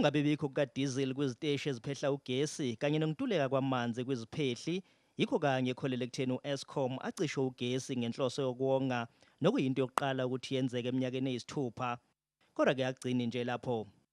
Ukungabibikho kukadizili kwiziteshi eziphehla ugesi kanye nokuntuleka kwamanzi kwiziphehli yikho kanye ekholele ekutheni u-Eskom acishe ugesi ngenhloso yokuwonga nokuyinto yokuqala ukuthi yenzeke eminyakeni eyisithupha. Kodwa-ke akugcini nje lapho.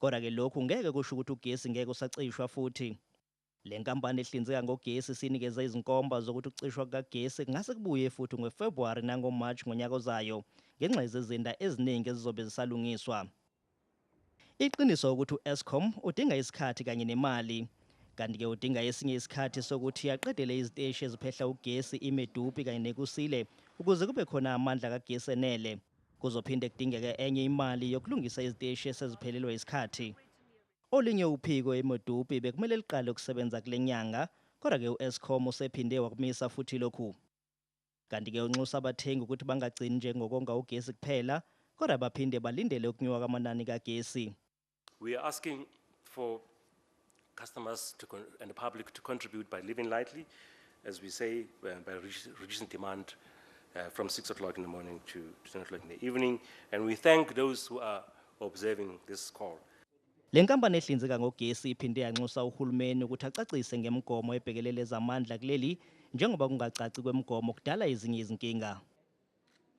Kodwa ke lokhu ngeke kusho ukuthi ugesi ngeke usacishwa futhi. Le nkampani ehlinzeka ngogesi isinikeze izinkomba zokuthi ukucishwa kukagesi kungase kubuye futhi ngoFebhuwari nangoMarch ngonyaka ozayo ngenxa yezizinda eziningi ezizobe zisalungiswa. Iqiniso ukuthi u-Eskom udinga isikhathi kanye nemali. Kanti ke udinga esinye isikhathi sokuthi aqedele iziteshi eziphehla ugesi iMedupi kanye neKusile ukuze kube khona amandla kagesi enele. Kuzophinde kudingeke enye imali yokulungisa iziteshi eseziphelelwe isikhathi. Olinye uphiko eModupi bekumele liqale ukusebenza kule nyanga kodwa ke u-Eskom usephinde wakumisa futhi lokhu. Kanti ke unxusa abathengi ukuthi bangagcini nje ngokonga ugesi kuphela kodwa baphinde balindele ukunyuka kwamanani kagesi. We are asking for customers to and the public to contribute by living lightly, as we say, uh, by reducing demand uh, from 6 o'clock in the morning to 10 o'clock in the evening. And we thank those who are observing this call. Le nkampani ehlinzeka ngogesi iphinde yanxusa uhulumeni ukuthi acacise ngemgomo ebhekelele ezamandla kuleli njengoba kungacaci kwemgomo kudala ezinye izinkinga.